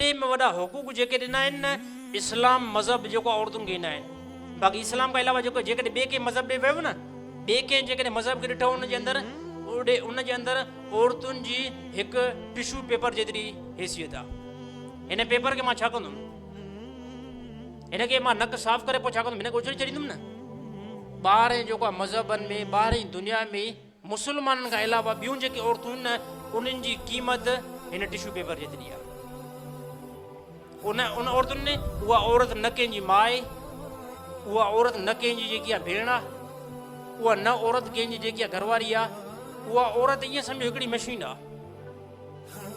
تي ۾ وڏا حقوق جيڪي ڏنا آهن نه اسلام مذهب جيڪو عورتن کي ڏنا آهن باقي اسلام کان علاوه جيڪو جيڪڏهن ٻئي ڪنهن مذهب ڏي ويو نه ٻئي ڪنهن جيڪڏهن مذهب کي ڏٺو ان جي اندر اوڏي ان جي اندر عورتن جي هڪ ٽشو پيپر جيتري حيثيت آهي هن پيپر کي مان ڇا ڪندم هن کي مان نڪ صاف ڪري پوء ڇا ڪندم هن کي اڇلي ڇڏيندم نه ٻاهر جيڪو مذهبن ۾ ٻاهرين دنيا ۾ مسلمانن کان علاوه ٻيون جيڪي عورتون آهن انهن جي قيمت هن ٽشو پيپر جيتري آهي. ان ان عورتن ۾ اها عورت نه ڪنهن جي ماء اها عورت نه ڪنهن جي جيڪي ڀيڻ آهي اها نه عورت ڪنهن جي جيڪي گهرواري آهي اها عورت ائين سمجهو هڪڙي مشين آهي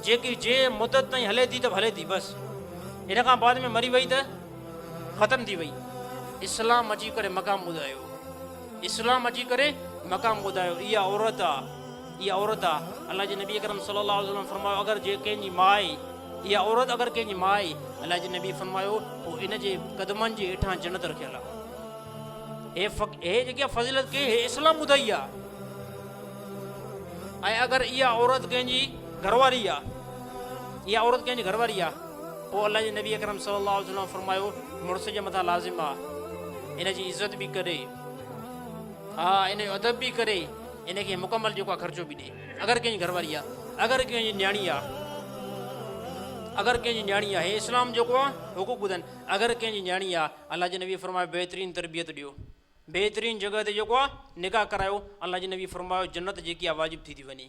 جيڪي جي مدت تائين هلي ٿي ته به هلي ٿي بس ان کان بعد ۾ مري وئي ته ختم ٿي وئي اسلام اچي ڪري مقام ٻڌايو اسلام اچي ڪري مقام ٻڌايو اها عورت آهي اها عورت آهي الله جي نبي اڪرم صلي الله وسلم فرمايو اگر جي ڪنهن جي ماء اها عورت اگر ڪنهن جي ماء الله جي نبي فرمايو پوء ان جي قدمن جي هيٺان جنت رکيل آهي هي فق... هي جيڪي فضيلت کي هي اسلام ٻڌائي آهي ۽ اگر اها عورت ڪنهن جي گهرواري آ اها عورت ڪنهن جي گهرواري آ پوء الله جي نبي اڪرم صلي الله عليه وسلم فرمايو مڙس جي مٿان لازم آ ان جي عزت به ڪري ها ان جو ادب به ڪري ان کي مڪمل جيڪو آ خرچو به ڏي اگر ڪنهن جي گهرواري آ اگر ڪنهن جي نياڻي آ اگر ڪنهن جي نياڻي آ هي اسلام جيڪو آ حقوق ٻڌن اگر ڪنهن جي نياڻي آ الله جي نبي فرمايو بهترين تربيت ڏيو بهترين جڳهه تي جيڪو آ نڪاح ڪرايو الله جي نبي فرمايو جنت جيڪي آ واجب ٿي ٿي وڃي.